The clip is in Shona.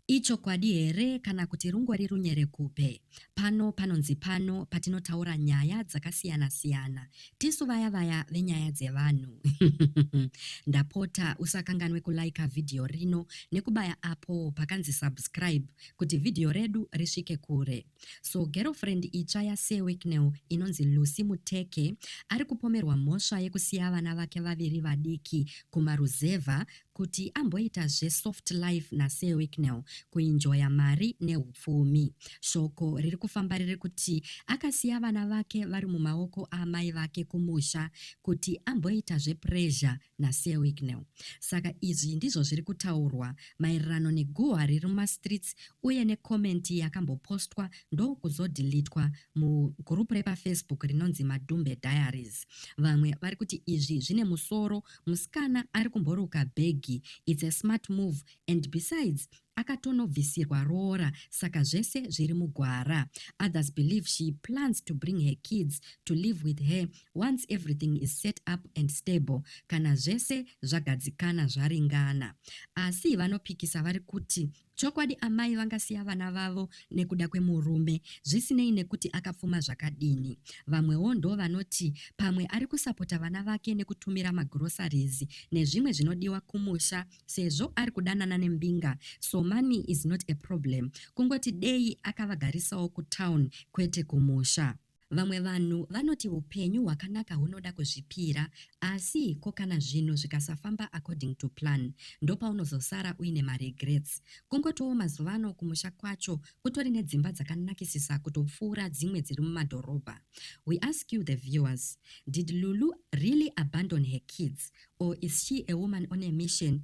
Ichokwadi here kana kuti rungori runyerekupe? Pano panonzi pano patinotaura nyaya dzakasiyana siyana tisu vaya vaya venyaya dzevanhu ndapota usakanganwe kulaika vhidhiyo rino nekubaya apo pakanzi subscribe kuti vhidhiyo redu risvike kure. So girlfriend itsva yaSir Wicknell inonzi Lucy Muteke ari kupomerwa mhosva yekusiya vana vake vaviri vadiki kumaruzevha kuti amboita zve soft life na Sir Wicknell kuinjoya mari nehupfumi. Shoko riri kufamba riri kuti akasiya vana vake vari mumaoko aamai vake kumusha kuti amboita zve pressure na Sir Wicknell. Saka izvi ndizvo zviri kutaurwa maererano neguhwa riri muma streets uye ne comment yakambopostwa ndokuzodhilitwa mu group repa Facebook rinonzi Madhumbe Diaries. Vamwe vari kuti izvi zvine musoro musikana ari kumboroka bhegi its a smart move and besides akatonobvisirwa roora saka zvese zviri mugwara others believe she plans to bring her kids to live with her once everything is set up and stable kana zvese zvagadzikana zvaringana asi vanopikisa vari kuti Chokwadi amai vangasiya vana vavo nekuda kwemurume zvisinei nekuti akapfuma zvakadini. Vamwewo ndovanoti pamwe ari kusapota vana vake nekutumira magroceries nezvimwe zvinodiwa kumusha sezvo ari kudanana nembinga so money is not a problem kungoti dei akavagarisawo kutown kwete kumusha. Vamwe vanhu vanoti upenyu hwakanaka hunoda kuzvipira asi ko kana zvinhu zvikasafamba according to plan ndopaunozosara uine maregrets. Kungotiwo mazuva ano kumusha kwacho kutori nedzimba dzakanakisisa kutopfuura dzimwe dziri mumadhorobha. We ask you the viewers, did Lulu really abandon her kids or is she a woman on a mission